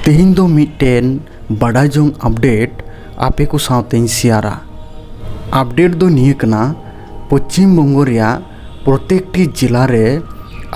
ᱛᱮᱦᱮᱧ ᱫᱚ ᱢᱤᱫᱴᱮᱱ ᱵᱟᱰᱟᱭ ᱡᱚᱝ ᱟᱯᱰᱮᱴ ᱟᱯᱮ ᱠᱚ ᱥᱟᱶᱛᱮᱧ ᱥᱮᱭᱟᱨᱟ ᱟᱯᱰᱮᱴ ᱫᱚ ᱱᱤᱭᱟᱹ ᱠᱟᱱᱟ ᱯᱚᱪᱷᱤᱢ ᱵᱚᱝᱜᱚ ᱨᱮᱭᱟᱜ ᱯᱨᱚᱛᱮᱠᱴᱤ ᱡᱮᱞᱟ ᱨᱮ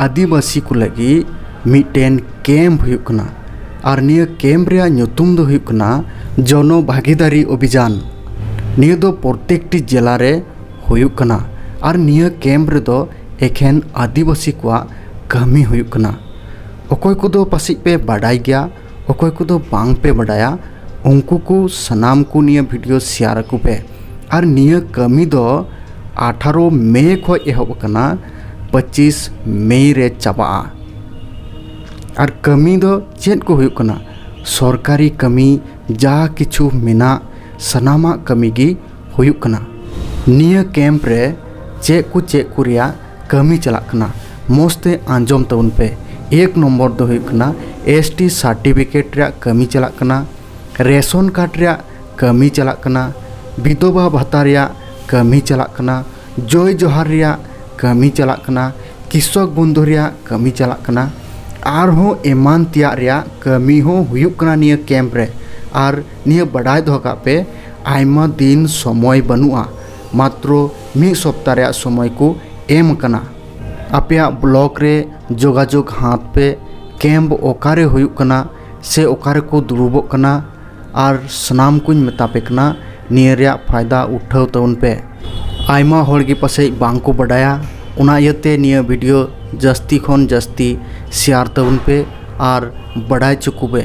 ᱟᱹᱫᱤᱵᱟᱹᱥᱤ ᱠᱚ ᱞᱟᱹᱜᱤᱫ ᱢᱤᱫᱴᱮᱱ ᱠᱮᱢᱯ ᱦᱩᱭᱩᱜ ᱠᱟᱱᱟ ᱟᱨ ᱱᱤᱭᱟᱹ ᱠᱮᱢᱯ ᱨᱮᱭᱟᱜ ᱧᱩᱛᱩᱢ ᱫᱚ ᱦᱩᱭᱩᱜ ᱠᱟᱱᱟ ᱡᱚᱱᱚ ᱵᱷᱟᱹᱜᱤᱫᱟᱨᱤ ᱚᱵᱷᱤᱡᱟᱱ ᱱᱤᱭᱟᱹ ᱫᱚ ᱯᱨᱚᱛᱮᱠᱴᱤ ᱡᱮᱞᱟ ᱨᱮ ᱦᱩᱭᱩᱜ ᱠᱟᱱᱟ ᱟᱨ ᱱᱤᱭᱟᱹ ᱠᱮᱢᱯ ᱨᱮᱫᱚ ᱮᱠᱷᱮᱱ ᱟᱹᱫᱤᱵᱟᱹᱥᱤ ᱠᱚᱣᱟᱜ ᱠᱟᱹᱢᱤ ᱦᱩᱭᱩᱜ ᱠᱟᱱᱟ ᱚᱠᱚᱭ ᱠᱚᱫᱚ ᱯᱟᱥᱮᱡ ᱯᱮ ᱵᱟᱰᱟᱭ ᱜᱮᱭᱟ ᱚᱠᱚᱭ ᱠᱚᱫᱚ ᱵᱟᱝ ᱯᱮ ᱵᱟᱰᱟᱭᱟ ᱩᱱᱠᱩ ᱠᱚ ᱥᱟᱱᱟᱢ ᱠᱚ ᱱᱤᱭᱟᱹ ᱵᱷᱤᱰᱤᱭᱳ ᱥᱮᱭᱟᱨ ᱟᱠᱚ ᱯᱮ ᱟᱨ ᱱᱤᱭᱟᱹ ᱠᱟᱹᱢᱤ ᱫᱚ ᱟᱴᱷᱟᱨᱚ ᱢᱮ ᱠᱷᱚᱡ ᱮᱦᱚᱵ ᱟᱠᱟᱱᱟ ᱯᱚᱸᱪᱤᱥ ᱢᱮ ᱨᱮ ᱪᱟᱵᱟᱜᱼᱟ ᱟᱨ ᱠᱟᱹᱢᱤ ᱫᱚ ᱪᱮᱫ ᱠᱚ ᱦᱩᱭᱩᱜ ᱠᱟᱱᱟ ᱥᱚᱨᱠᱟᱨᱤ ᱠᱟᱹᱢᱤ ᱡᱟ ᱠᱤᱪᱷᱩ ᱢᱮᱱᱟᱜ ᱥᱟᱱᱟᱢᱟᱜ ᱠᱟᱹᱢᱤ ᱜᱮ ᱦᱩᱭᱩᱜ ᱠᱟᱱᱟ ᱱᱤᱭᱟᱹ ᱠᱮᱢᱯ ᱨᱮ ᱪᱮᱫ ᱠᱚ ᱪᱮᱫ ᱠᱚ ᱨᱮᱭᱟᱜ ᱠᱟᱹᱢᱤ ᱪᱟᱞᱟᱜ ᱠᱟᱱᱟ ᱢᱚᱡᱽ ᱛᱮ ᱟᱸᱡᱚᱢ ᱛᱟᱵᱚᱱ ᱯᱮ ᱮᱠ ᱱᱚᱢᱵᱚᱨ ᱫᱚ ᱦᱩᱭᱩᱜ ᱠᱟᱱᱟ ᱮᱥ ᱴᱤ ᱥᱟᱨᱴᱤᱯᱷᱤᱠᱮᱴ ᱨᱮᱭᱟᱜ ᱠᱟᱹᱢᱤ ᱪᱟᱞᱟᱜ ᱠᱟᱱᱟ ᱨᱮᱥᱚᱱ ᱠᱟᱨᱰ ᱨᱮᱭᱟᱜ ᱠᱟᱹᱢᱤ ᱪᱟᱞᱟᱜ ᱠᱟᱱᱟ ᱵᱤᱫᱷᱚᱵᱟ ᱵᱷᱟᱛᱟ ᱨᱮᱭᱟᱜ ᱠᱟᱹᱢᱤ ᱪᱟᱞᱟᱜ ᱠᱟᱱᱟ ᱡᱚᱭ ᱡᱚᱦᱟᱨ ᱨᱮᱭᱟᱜ ᱠᱟᱹᱢᱤ ᱪᱟᱞᱟᱜ ᱠᱟᱱᱟ ᱠᱤᱥᱚᱠ ᱵᱚᱱᱫᱷᱩ ᱨᱮᱭᱟᱜ ᱠᱟᱹᱢᱤ ᱪᱟᱞᱟᱜ ᱠᱟᱱᱟ ᱟᱨᱦᱚᱸ ᱮᱢᱟᱱ ᱛᱮᱭᱟᱜ ᱨᱮᱭᱟᱜ ᱠᱟᱹᱢᱤ ᱦᱚᱸ ᱦᱩᱭᱩᱜ ᱠᱟᱱᱟ ᱱᱤᱭᱟᱹ ᱠᱮᱢᱯ ᱨᱮ ᱟᱨ ᱱᱤᱭᱟᱹ ᱵᱟᱰᱟᱭ ᱫᱚᱦᱚ ᱠᱟᱜ ᱯᱮ ᱟᱭᱢᱟ ᱫᱤᱱ ᱥᱚᱢᱚᱭ ᱵᱟᱹᱱᱩᱜᱼᱟ ᱢᱟᱛᱨᱚ ᱢᱤᱫ ᱥᱚᱯᱛᱟ ᱨᱮᱭᱟᱜ ᱥᱚᱢᱚᱭ ᱠᱚ ᱮᱢ ᱟᱠᱟᱱᱟ ᱟᱯᱮᱭᱟᱜ ᱵᱞᱚᱠ ᱨᱮ ᱡᱳᱜᱟᱡᱳᱜᱽ ᱦᱟᱛᱟᱣ ᱯᱮ ᱠᱮᱢᱯ ᱚᱠᱟᱨᱮ ᱦᱩᱭᱩᱜ ᱠᱟᱱᱟ ᱥᱮ ᱚᱠᱟ ᱨᱮᱠᱚ ᱫᱩᱲᱩᱵᱚᱜ ᱠᱟᱱᱟ ᱟᱨ ᱥᱟᱱᱟᱢ ᱠᱚᱧ ᱢᱮᱛᱟ ᱯᱮ ᱠᱟᱱᱟ ᱱᱤᱭᱟᱹ ᱨᱮᱭᱟᱜ ᱯᱷᱟᱭᱫᱟ ᱩᱴᱷᱟᱹᱣ ᱛᱟᱵᱚᱱ ᱯᱮ ᱟᱭᱢᱟ ᱦᱚᱲ ᱜᱮ ᱯᱟᱥᱮᱡ ᱵᱟᱝ ᱠᱚ ᱵᱟᱰᱟᱭᱟ ᱚᱱᱟ ᱤᱭᱟᱹᱛᱮ ᱱᱤᱭᱟᱹ ᱵᱷᱤᱰᱭᱳ ᱡᱟᱹᱥᱛᱤ ᱠᱷᱚᱱ ᱡᱟᱹᱥᱛᱤ ᱥᱮᱭᱟᱨ ᱛᱟᱵᱚᱱ ᱯᱮ ᱟᱨ ᱵᱟᱰᱟᱭ ᱦᱚᱪᱚ ᱠᱚᱯᱮ